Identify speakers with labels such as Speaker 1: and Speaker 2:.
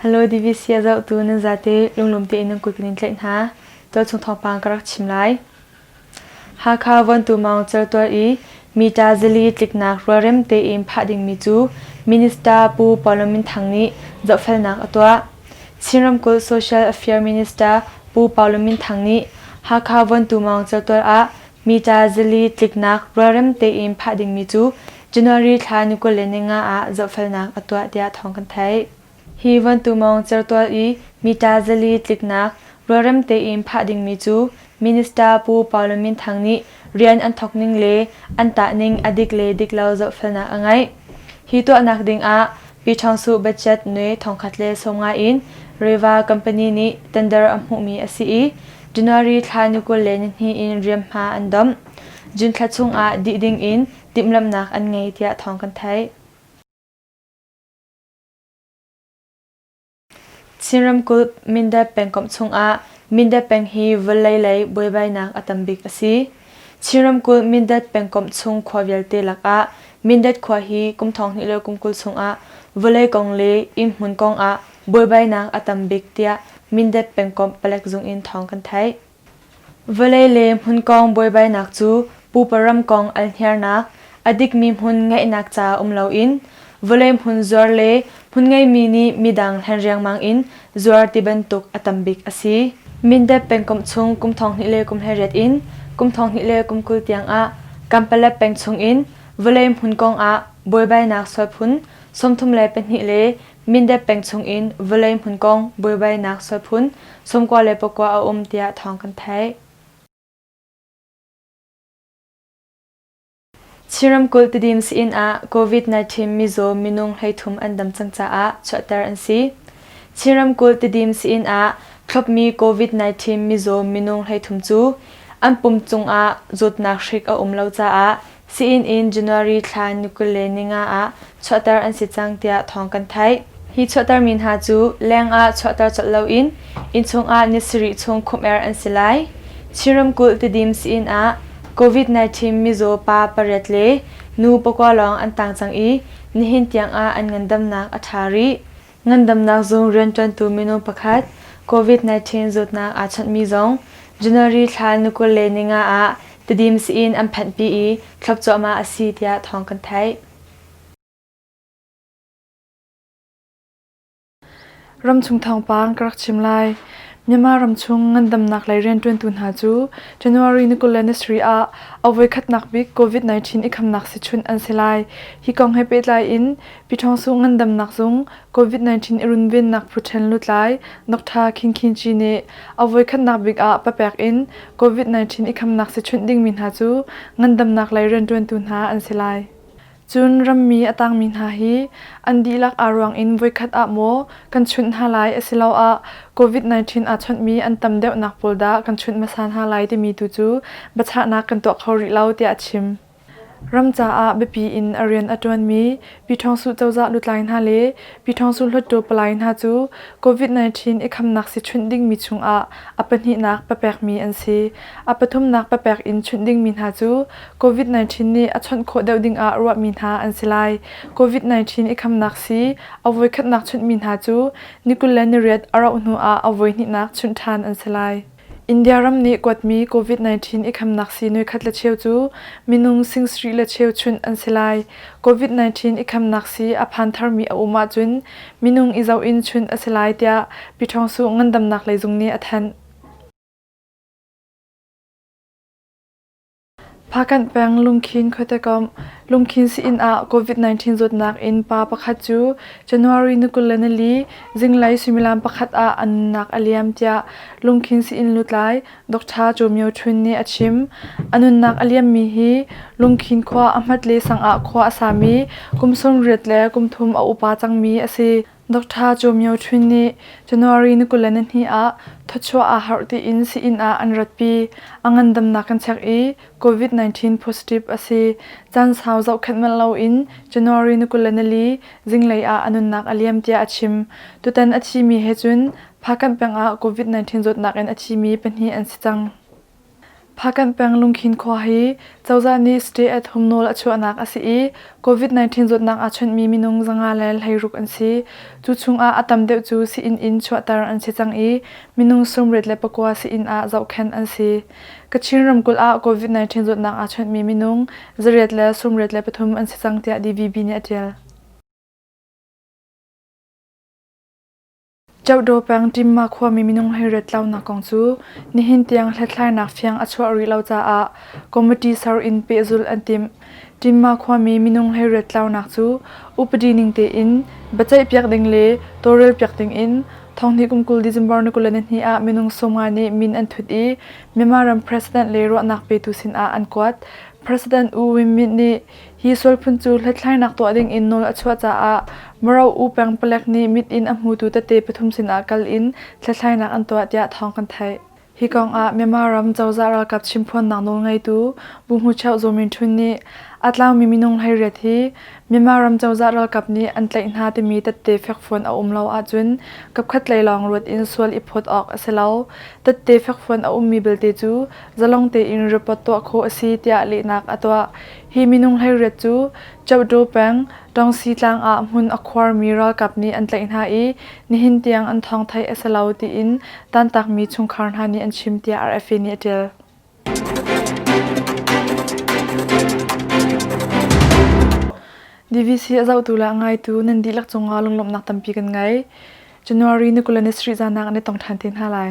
Speaker 1: Hello DVC a zohtu nan zate lunglawm tein nan kut kan in tlaih hna. Tualchung thawngpang ka rak chim lai. Hakha Vontu Maung Certual i Mita zili tliknak rualrem tein phah dingmi cu Minister Pu Paul Minthang nih zohfelnak a tuah. Chin Ramkulh Social Affairs Minister Pu Paul Minthang nih Hakha Vontu Maung Certual ah Meter zili tliknak rualrem tein phah dingmi cu January thla ni kul le ni nga ah zohfelnak a tuah tiah thawng kan theih. Hi vantumawng certual i meter zali tliknak rualrem tein phah dingmi cu Minister Pu Paulo Minthang nih rian an thawk ning le an tah ning a dik le dik lo zohfelnak a ngeih. Hi tuahnak dingah Pi Ṭhawngsuh Budget Nwe thongkhat le sawm ngai in Reva company nih tender a hmuhmi a si i January thla ni kul le ni hnih in riamhma an domh. June thla chungah dih dingin timhlamhnak an ngei tiah thawng kan theih. Chin ramkulh Mindat pengkomh chungah Mindat peng hi vawlei lei buaibainak a tam bik a si. Chin ramkulh Mindat pengkomh chung khua vialte lakah Mindat khua hi kum thong hnih le kum kul chungah vawlei kong le inn hmun kong ah buaibainak a tam bik tiah Mindat pengkomh palek zung in thawng kan theih. Vawlei le hmun kong buaibainak cu pupa ram kong alhniarnak, a dikmi hmun ngeihnak ca um loin vawlei hmun zuar le hmun ngeimi nih midang hlen riangmang in zuar ti bantuk a tam bik a si. Mindat pengkomh chung kum thong hnih le kum hlariat in kum thong hnih le kum kul tiangah Kampalep peng chung in vawlei hmun kongah buaibainak sual phun sawmthum le pahnih le Mindep peng chungin vawlei hmun kong buaibainak solphun, sawmkua le pakua a um tiah thawng kan theih. Chin ramkulh Tidin inn ah COVID-19 mizaw minung hleithum an dam cang caah chuahter an si. Chin ramkulh Tidin inn ah thlopmi COVID-19 mizaw minung hleithum cu an pum cungah zawtnak hrik a um lo caah Sii-inn in January thla ni kul le ni nga ah chuahter an si cang tiah thawng kan theih. Hi chuahtermi hna cu leng ah chuahter colh loin innchung ah ni sarih chung khumh-er an si lai. Chin ramkulh Tidim sii-inn ah COVID-19 mizaw pa pariat le nu pakua lawng an tang cang i nihin tiang ah an ngandamnak a ṭha rih. Ngandamnak zung rianṭuantu minung pakhat COVID-19 zawtnak aa chawnhmi zong January thla ni kul le ni nga ah Tedim sii-inn an phanhpi i thlop cuahmah a si tiah thawng kan theih. Ramchung thawngpang ka rak chim lai. Myanmar ramchung ngandamnak lei rianṭuantu hna cu January ni kul le ni sri ah a voi khatnak bik COVID-19 i khamnak si chunh an si lai. Hi kong he pehtlai in Pyithawngsung ngandamnak zung COVID-19 i runvennak phuṭhen lutlai Doctor Khin Khin Ci nih a voikhatnak bik ah papek in COVID-19 i khamnak si chunh dingmi hna cu ngandamnak lei rianṭuantu hna an si lai. Cun rammi a tangmi hna hi an dihlak aa ruang in voikhat ah maw kan chunh hna lai asiloah COVID-19 aa chawnhmi an tam deuhnak pawl dah kan chunh hmasa hna lai timi tu cu biachahnak kan tuah kho rih lo tiah a chim. Ram caah biapi in a rian a ṭuanmi Pi Ṭhawng Suh cozah lutlai hna le Pi Ṭhawng Suh hluttaw palai hna cu COVID-19 i khamnak si chunh dingmi chungah a pahnihnak papekmi an si. A pathumnak papek in chunh dingmi hna cu COVID-19 nih a chawnh khawh deuh dingah ruahmi hna an si lai. COVID-19 i khamnak si a voikhatnak chunhmi hna cu ni kul le ni riat a rauh hnuah a voihnihnak chunh ṭhan an si lai. India ram nih kuatmi COVID-19 i khamnak sii nuikhat le cheu cu minung sing-sarih le cheu chunh an si lai. COVID-19 i khamnak sii a phan tharmi a um ahcun minung i zoh in chunh a si lai tiah Pyithawngsu ngandamnak lei zung nih a thanh. Phakan peng Lungkhin khuate komh Lungkhin sii-inn ah COVID-19 zawtnak in pa pakhat cu January ni kul le nali zinglei suimilam pakhat ah a nunnak a liam tiah Lungkhin sii-inn lutlai Dr. Caw Myo Htun nih a chim. A nunnak a liammi hi Lungkhin khua a hmatle sang ah khua a sami kum sawm riat le kum thum a upa cangmi a si. Doctor Cho Myo Htun nih January ni kul le nihnih ah thawchuah aa harh tiin sii-inn ah an ratpi. A ngandamnak kan chek i COVID-19 positive a si. Caan sau zohkhenh manh loin January ni kul le nili zinglei ah a nunnak a liam tiah a chim. Tutan a thimi he cun Phakan peng ah COVID-19 zawtnak in a thimi pahnih an si cang. Phakan peng Lungkhin khua hi cozah nih stay at home nawl a chuahnak a si i COVID-19 zawtnak aa chawnhmi minung zanga le hleiruk an si. Cu chungah a tam deuh cu sii-inn in chuahter an si cang i minung sawmriat le pakua sii-inn ah zohkhenh an si. Kachin ramkulh ah COVID-19 zawtnak aa chawnhmi minung zariat le sawmriat le pathum an si cang tiah DVB nih a ṭial. Chawdaw peng Timma khuami minung hleiret launak kong cu nihin tiang hlathlainak fiang a chuah rih lo caah committee ser in pehzulh an timh. Timma khuami minung hleiret launak cu upadi ning tein biaceihpiak ding le tawlrelpiak dingin thonghnih kum kul December ni kul le nihnih ah minung sawmnga nih min an thut i Myanmar ram president le ruahnak petu sinah an kuat. President U Win Myint nih Hi sual phun cu hlethlainak tuah dingin nawl a chuah caah Maro-u pengpalek nih mit in a hmutu tete pathum sinah kal in hlethlainak an tuah tiah thawng kan theih. Hi kongah Myanmar ram cozah ralkap chimphuannak nawlngeitu Bu Hmu Cheu Zaw Min Htun nih a tlangmi minung hleiriat hi Myanmar ram cozah ralkap nih an tlaih hna timi tette fekfuan a um lo ahcun kapkhat lei lawng ruat in sual i phawt awk a si lo. Tette fekfuan a ummi belte cu zalong tein report tuah khawh a si tiah lehnak a tuah. Hi minung hleiriat cu Chapdaw peng Ṭawngsi tlang ah hmun a khuarmi ralkap nih an tlaih hna i nihin tiang an thawng theih a si lo tiin tantakmi chungkhar hna nih an chim tiah RFA nih a ṭial. DVC a zohtu le a ngaitu nan dihlak cungah lunglawmhnak tampi kan ngei. January ni kul le ni sarih zaanak an i tong ṭhan te hna lai.